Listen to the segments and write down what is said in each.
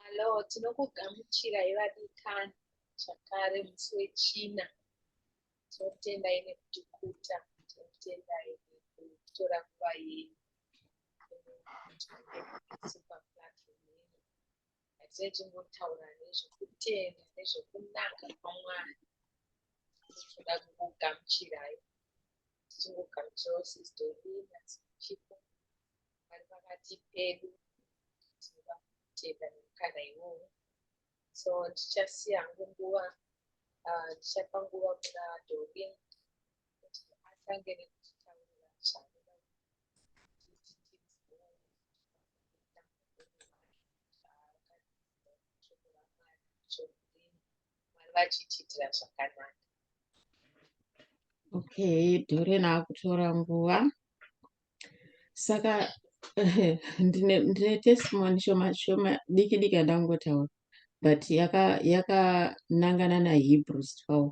Hello, tinokugamuchirai vadikani zvakare musi wechina tinotendai nekutikuta tinotendai nekutora nguva yenyu Dai tingotaura nezvekutenda nezvekunaka kwaMwari tinoda kukugamuchirai tichingogamuchirawo sizdolina dzekuchipo vari pakati pedu tinoda kutenda nemukana iwowo so ndichasiya hangu nguva ah, ndichapa nguva kuna dolin kuti atange nekutitaurira zvaanoda vachitiitira zvakanaka okay dore naakutora nguva saka ndine testimony shoma shoma diki diki yandangotaura but yakanangana yaka nahebrews 12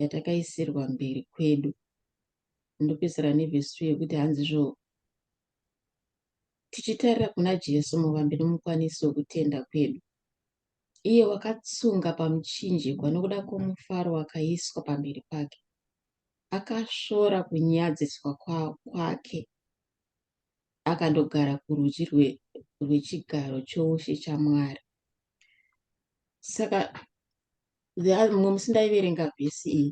yatakaisirwa mberi kwedu ndopedzisira nevhesi 2 yekuti hanzizvo tichitarira kuna jesu muvambi nomukwanisi wokutenda kwedu iye wakatsunga pamuchinjikwa nokuda kwomufaro wakaiswa pamberi pake akasvora kunyadziswa kwake akandogara kurudyi rwechigaro choushe chamwari saka mumwe musi ndaiverenga vhesi iyi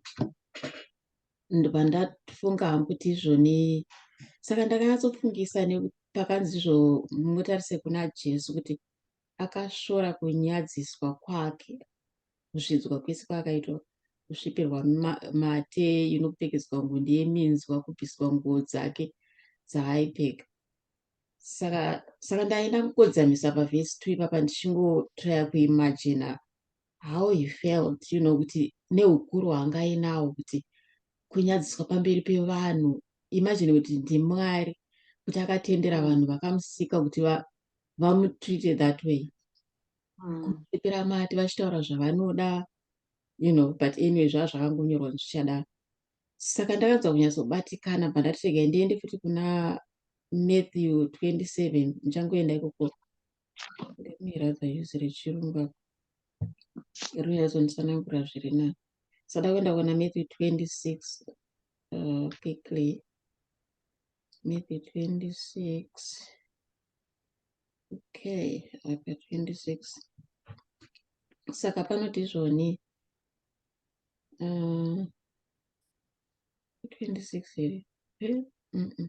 ndobva ndafunga hangu kuti izvoni saka ndakanyatsofungisa pakanzi izvo mutarise kuna jesu kuti akashora kunyadziswa kwake kusvidzwa kwese kwaakaitwa kusvipirwa mate inopfekedzwa ngundi yeminzwa kubviswa nguo dzake dzaaipfeka saka saka ndaenda kukodzamisa pavhesi two ipapa ndichingotraya kuimajina how he felt you know kuti neukuru hwanga ainawo kuti kunyadziswa pamberi pevanhu imagine kuti ndimwari kuti akatendera vanhu vakamusika kuti vamutreate that way hmm. kuepera mati vachitaura zvavanoda you know but anyway zvava zvakangonyorwa zvichadaro saka ndakanzwa kunyatsobatikana pandati regai ndiende futi kuna matthew 27 ndichangoenda ikoko let me rather use rechirungu apa ruya azondisanangura zviri na sada kuenda kuona matthew 26 uh, quickly matthew 26 okay apa 26 saka panoti izvoni uh, 26 here mm -mm.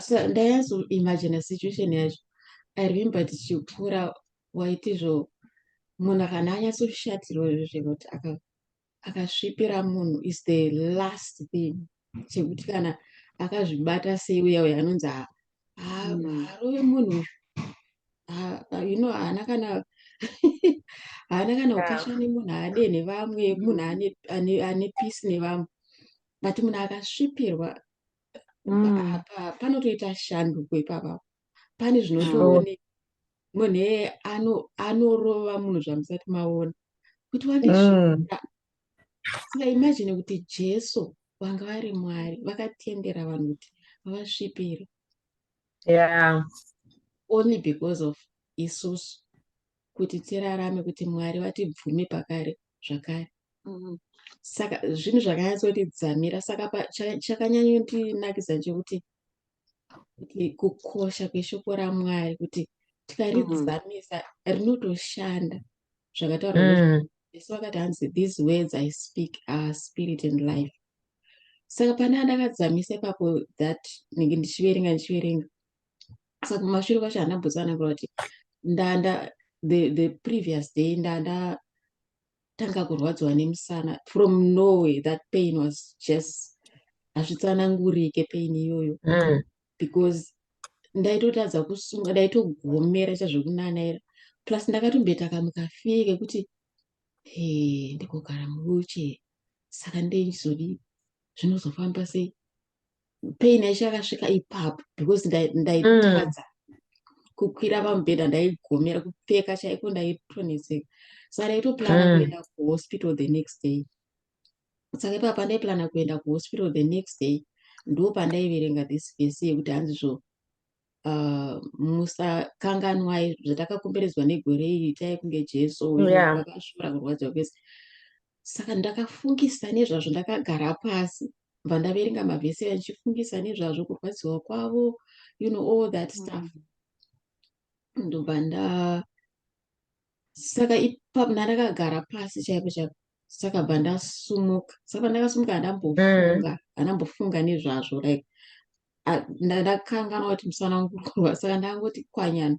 so ndaianzo imagine situation yacho i remember tichikura waitizvo munhu kana anyatsoshatirwa izvo zvekuti akasvipira munhu is the last thing chekuti kana akazvibata sei uya uya anonzi harovi mm. munhu you know haana kana haana kana ukasha nemunhu haade nevamwe munhu ane peace nevamwe but munhu akasvipirwa mm. panotoita shanduko ipapa pane zvinotooneka munhu anorova ano munhu zvamusati maona kuti wane mm. saka imajini kuti jesu vanga vari mwari vakatendera vanhu kuti vavasvipire yeah. only because of isusu kuti tirarame kuti mwari vatibvume pakare zvakare mm-hmm. saka zvinhu zvakanyatsotidzamira saka chakanyanyondinakidza chekuti kuti kukosha kweshoko ramwari kuti tikaridzamisa mm-hmm. rinotoshanda zvakataura mm. jesu vakati hanzi these words i speak are spirit and life saka pane andakadzamisa ipapo that nenge ndichiverenga ndichiverenga saka kumashure kwacho hana bhutsu anakura kuti ndanda the, the previous day ndanda tanga kurwadziwa nemusana from norway that pain was just hazvitsanangurike pain iyoyo mm. because ndaitotadza kusunga ndaitogomera chazvekunanaira plus ndakatombeta kamukafie kekuti he ndikogara muwheelchair saka ndeichizodii zvinozofamba sei pain yacho yakasvika ipapo because ndaitadza mm. kukwira pamubhedha ndaigomera kupfeka chaiko ndaitoneseka saka ndaitoplana mm. kuenda kuhospital the next day saka ipa pandaiplana kuenda kuhospital the next day ndo pandaiverenga this vese yekuti hanzi zvo uh, musakanganwai zvatakakomberedzwa negore iri itai kunge jesu akashora yeah. kurwadziwa kwese saka ndakafungisa nezvazvo ndakagara pasi bva ndaverenga mavhesi achifungisa nezvazvo kurwadziwa kwavo you know all that mm. stuff ndobva nda saka ipapo ndandakagara pasi chaipo chaipo saka bva ndasumuka saka pandakasumuka handambofunga mm. handambofunga nezvazvo like ndakanganwa kuti musana wangu kurwa saka ndangoti kwanyana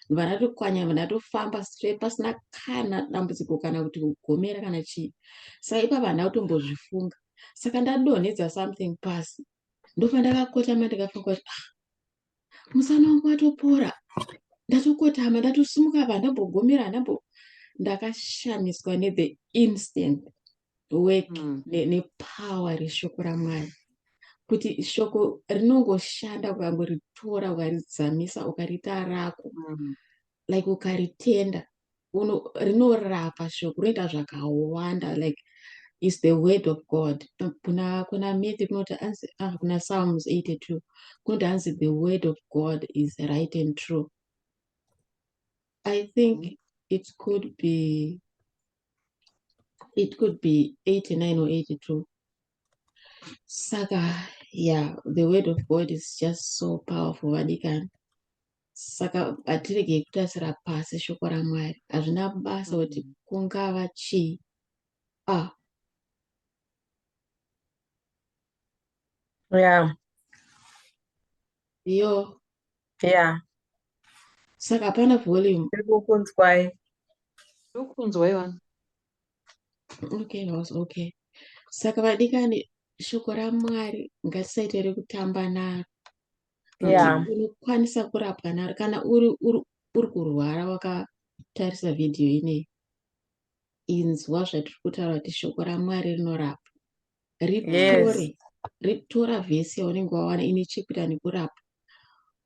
ndibva ndatokwanyama ndatofamba straight pasina kana dambudziko kana kuti kugomera kana chii saka ipapa handina kutombozvifunga saka ndadonhedza something pasi ndofa ndakakotama ndikafunga kuti ah, musana wangu watopora ndatokotama ndatosimuka pa ndambogomera ndambo ndakashamiswa nethe instant work mm. nepower ne reshoko ramwari kuti shoko rinongoshanda ukangoritora ukaridzamisa ukariita rako mm. like ukaritenda rinorapa shoko rinoita zvakawanda like is the word of god kuna kuna mithi kunoti anzi ah, kuna psalms 82 kunoti anzi the word of god is right and true i think mm. it could be it could be 89 or 82 saka yeah the word of god is just so powerful vadikani saka hatiregei kutasira pasi shoko ramwari hazvina basa kuti mm. kungava chii ah yeah yo Yeah. Saka hapana volume. Ndiri kukunzwai. Ndiri kukunzwai wani. Okay, house, okay. Saka vadikani shoko raMwari ngatisaite rekutamba naro. Yeah. Unokwanisa kurapwa naro kana uri uri uri kurwara wakatarisa video ineyi. Inzwa zvatiri kutaura kuti shoko raMwari rinorapa. ritore yes. ritora vhesi yaunenge wawana ine chekuita nekurapa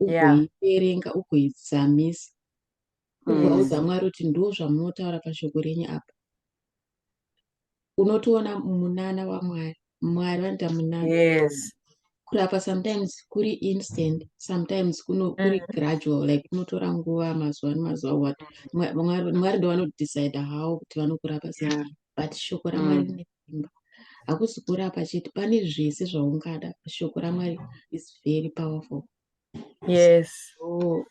ugoiverenga yeah. ugoidzamisa ugoudza mm. mwari kuti ndo zvamunotaura pashoko renyu apa unotoona munana wamwari mwari vanoita munana yes. kurapa sometimes kuri instant sometimes kuno kuri mm. gradual like kunotora nguva mazuva nemazuva what mwari ndo vanodecide how kuti vanokurapa sei yeah. but shoko ramwari mm. imba hakusi kurapa chete pane zvese zvaungada shoko ramwari is very powerful yes so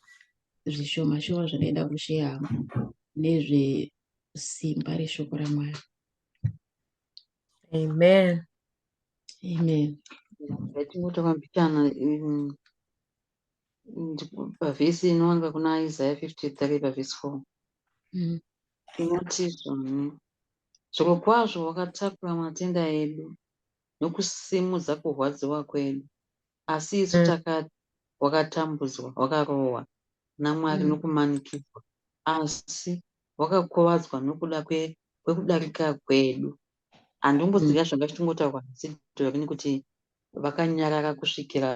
zvishoma shoma zvakaenda kusheya nezve simba reshoko ramwari amen amen yatingoita mabitana um, pavhesi inowanika kuna isaya 53 pavhesi 4 mm. Tinotizvoni. Zvirokwazvo wakatakura matenda edu nokusimudza kurwadziwa kwedu. Asi isu takati, Wakatambudzwa, wakarohwa naMwari nokumanikidzwa, asi wakakuvadzwa nokuda kwekudarika kwedu. Handimbozivi zvanga zvichingotagwa naSidhorini kuti vakanyarara kusvikira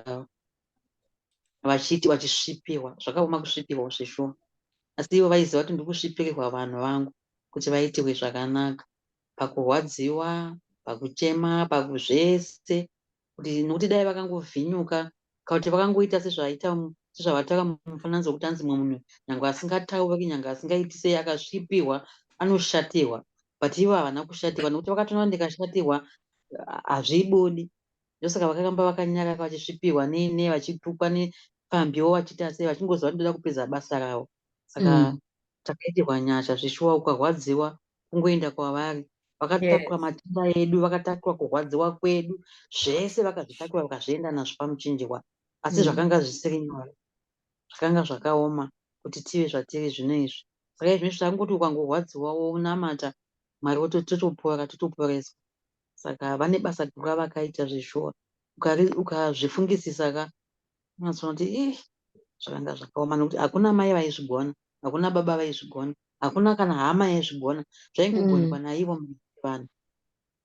vachiti vachisvipirwa zvakaoma kusvipirwa zveshuwa asi ivo vaiziva kuti ndikusvipirirwa vanhu vangu kuti vaitirwe zvakanaka pakurwadziwa pakuchema pakuzvese kuti nokuti dai vakangovhinyuka kauti vakangoita sezvaita sezvavataura mufananidzo wekuti anzi mumwe munhu nyange asingatauri nyange asingaiti sei akasvipirwa anoshatirwa but ivo havana kushatirwa nokuti vakatoona ndikashatirwa hazvibudi ndosaka vakaramba vakanyarara vachisvipirwa nei nei vachitukwa nepfambiwo vachiita sei vachingoziva kuti ndoda kupedza basa ravo saka mm. takaitirwa mm. nyasha zvishuwa ukarwadziwa kungoenda kwavari vakatakurwa yes. matenda edu vakatakurwa kurwadziwa kwedu zvese vakazvitakura vakazvienda nazvo pamuchinjirwa asi mm. zvakanga zvisiri nyore zvakanga zvakaoma kuti tive zvatiri zvino izvi saka izvi zvakangoti ukangorwadziwa wonamata mwari wototopora totoporeswa Saka vane basa guru ravakaita zveshuwa. Ukari- Ukazvifungisisa ka unozoona kuti ih zvakanga zvakaoma nekuti hakuna mai vaizvigona, hakuna baba vaizvigona, hakuna kana hama yaizvigona. Zvaingogonekwa Mm. naivo mhuri yevanhu.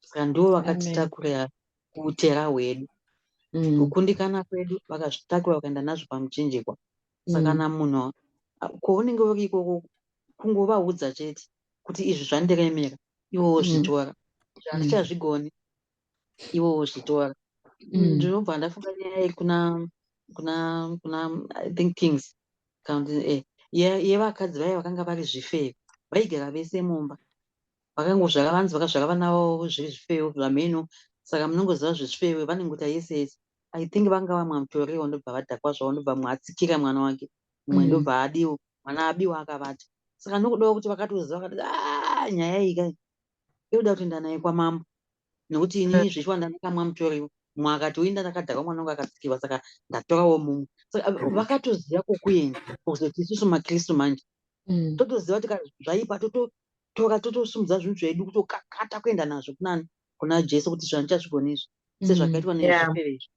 Saka ndivo Amen. vakatitakura kuutera hwedu. Mm. Kukundikana kwedu vakazvitakura vakaenda nazvo pamuchinjikwa. Saka Mm. kana munhu a- kwaunenge uri ikoko kungovaudza chete kuti izvi zvandiremera iwo wozvitora mm. zvandichazvigoni mm. iwo wozvitora mm. ndinobva ndafunga nyaya iri kuna kuna kuna i think kings eh, yevakadzi vaye vakanga vari zvifeyo vaigara vese mumba vakangozvara vanzi vakazvara vana vavo zviri zvifeyo zvamheno saka munongoziva zvezvifeyo vanenguta yese yese i think vanga vamwa mutoriwo ndobva vadhakwa zvavo ndobva mwa atsikira mwana wake mumwe mm. ndobva abiwa mwana abiwa akavata saka ndokudawo kuti vakatoziva vakati ah, nyaya iyi kai inoda kuti ndanaye kwamambo nekuti ini eh. zvichiwa ndandakamwa mutoriwo mumwe akati uinda ndakadhakwa mwana wangu akatsikirwa saka ndatorawo mumwe saka eh, mm. vakatoziva kwokuenda kuzoti isusu makristu manje mm. totoziva kuti zvaipa tototora totosumudza zvinhu zvedu kutokakata kuenda nazvo kunani kuna jesu kuti zvandichazvigonezvo sezvakaitwa nezvifeve izvo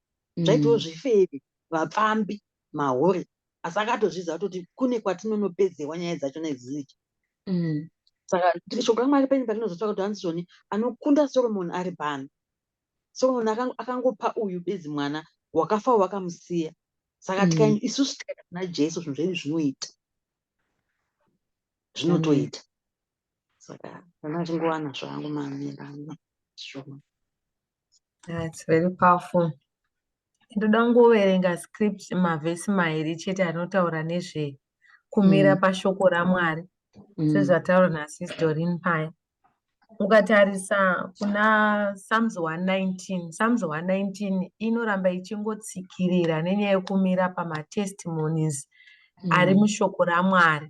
zvaitiwo zvifeve vapfambi mahure asi akatozvidza kutoti kune kwatinonopedzewa nyaya dzacho nedzidzi mm. saka shoko ramwari penyu patinozotsvaka kuti hanzi zvoni anokunda soromoni ari pano soromoni akangopa uyu bedzi mwana wakafa wakamusiya saka mm. tikaenda isusu tikaenda kuna jesu zvinhu zvedu zvinoita zvinotoita saka ana achingowana zvangu mamirana zvoma That's very powerful. Ndoda kungoverenga script mavhesi mairi chete anotaura nezve kumira mm. pashoko raMwari mm. sezvataura nasis Dorin paya. Ukatarisa kuna Psalms 119, Psalms 119 inoramba ichingotsikirira nenyaya yekumira pamatestimonies mm. ari mushoko raMwari.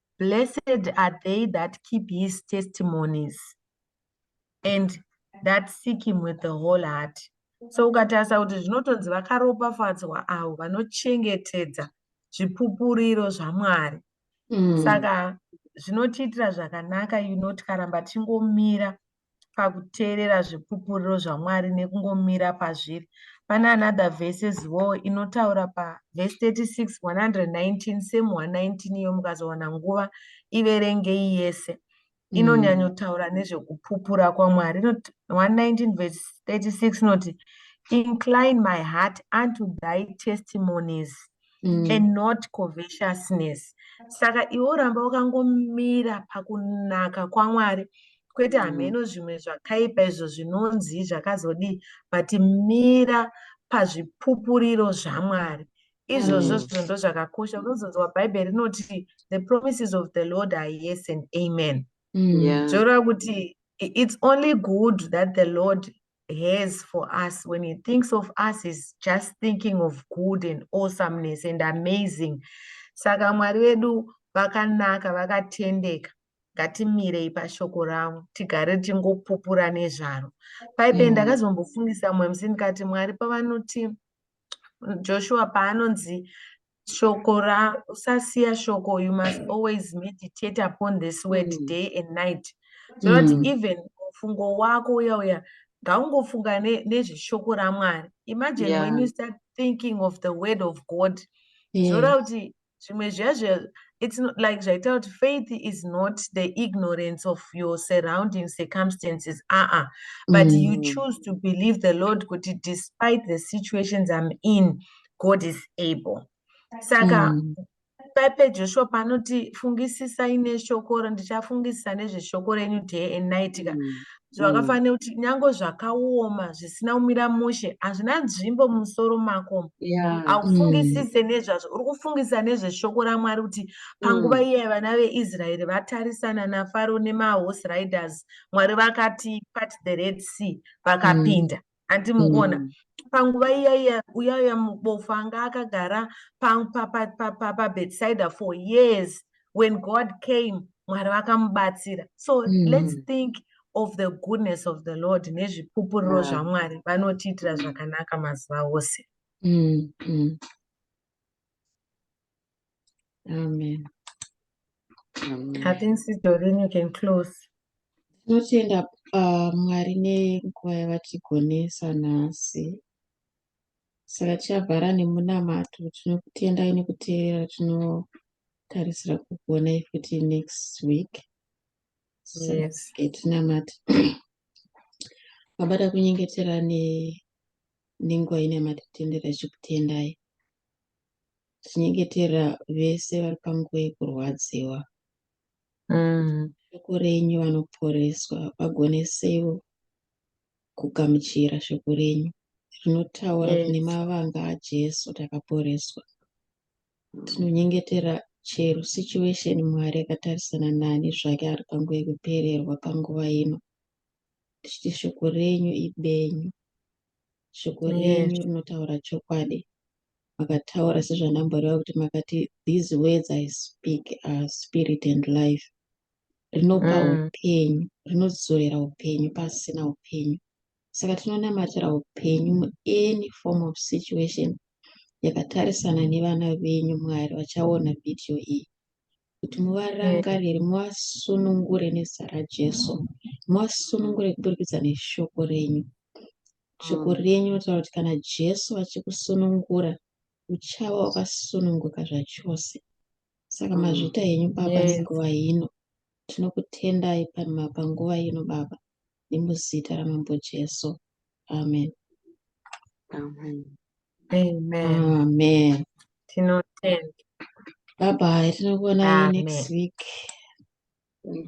Blessed are they that keep his testimonies and that seek him with the whole heart. So ukatarisa kuti zvinotonzi vakaropafadzwa avo vanochengetedza zvipupuriro zvaMwari. Mm. Saka zvinotiitira zvakanaka you know tikaramba tingomira pakuteerera zvipupuriro zvaMwari nekungomira pazviri. Pane another verse yezivowo inotaura paverse 36 119 same 119 iyo mukazowana nguva iverengei yese mm. inonyanyotaura nezvekupupura kwaMwari. 119 verse 36 inoti incline my heart unto thy testimonies mm. and not covetousness saka iwe uramba wakangomira pakunaka kwamwari kwete mm. hameno mm. zvimwe zvakaipa izvo zvinonzi zvakazodii but mira pazvipupuriro zvamwari izvozvo mm. zvondo zvakakosha unozonzwa bhaibheri rinoti the promises of the lord are yes and amen mm. zvoreva kuti it's only good that the lord has for us when he thinks of us is just thinking of good and awesomeness and amazing saka mwari vedu vakanaka vakatendeka ngatimirei pashoko ravo tigare tichingopupura nezvaro paipe mm. ndakazombofungisa mumwe musi ndikati mwari pavanoti joshua paanonzi shoko ra usasiya shoko you must mm. always meditate upon this word mm. day and night zvinoti mm. even mufungo wako uya uya ngaungofunga nezveshoko ne ramwari imagine yeah. when you start thinking of the word of god zvoda yeah. kuti zvimwe zviya zviya it's not like zvaita kuti faith is not the ignorance of your surrounding circumstances aa uh -uh. but mm. you choose to believe the lord kuti despite the situations i'm in god is able saka mm. paipe joshua panoti fungisisai neshoko ndichafungisisa nezveshoko renyu day and night ka mm. zvakafanira mm. kuti nyange zvakaoma zvisina kumira mushe hazvina nzvimbo mumusoro mako haufungisise mm. nezvazvo uri kufungisa nezveshoko ramwari kuti panguva mm. iye vana veisraeri vatarisana nafaro nemahorse riders mwari vakati pat the red sea vakapinda handi mukuona mm. panguva iya iya uya uya mubofu anga akagara pabedside for years when god came mwari vakamubatsira so mm. let's think of the goodness of the lord nezvipupuriro zvamwari vanotiitira zvakanaka mazuva ose mm, mm. Amen. Amen. I think Sister Doreen, you can close. Tinotenda uh, Mwari nenguva yavatigonesa nhasi. Saka tichavhara nemunamato tinokutendai nekuteerera tinotarisira kukuonai futi next week. Yes. Tinamati. Mabada kunyengetera ne nenguva ino yamatitendera tichikutendai tichinyengetera vese vari panguva yekurwadziwa mm. shoko renyu vanoporeswa vagonesewo kugamuchira shoko renyu rinotaura yes. kune mavanga ajesu takaporeswa tinonyengetera chero situation mwari akatarisana nani zvake ari panguva yekupererwa panguva ino tichiti shoko renyu ibenyu shoko renyu rinotaura chokwadi makataura sezvandamboreva kuti makati these words i speak are spirit and life rinopa mm. upenyu rinodzorera upenyu pasina upenyu saka tinonamatira upenyu muany form of situation yakatarisana nevana venyu mwari vachaona vhidhiyo iyi kuti muvarangarire muvasunungure nezita rajesu muvasunungure kuburikidza neshoko renyu shoko mm. renyu rinotaura kuti kana jesu vachikusunungura uchava wakasununguka zvachose saka mm. mazvita yenyu baba nguva ino tinokutendai panguva ino baba nemuzita ramambo jesu amen amen amen amen tinotenda bye bye tinokuonai next week Thank you.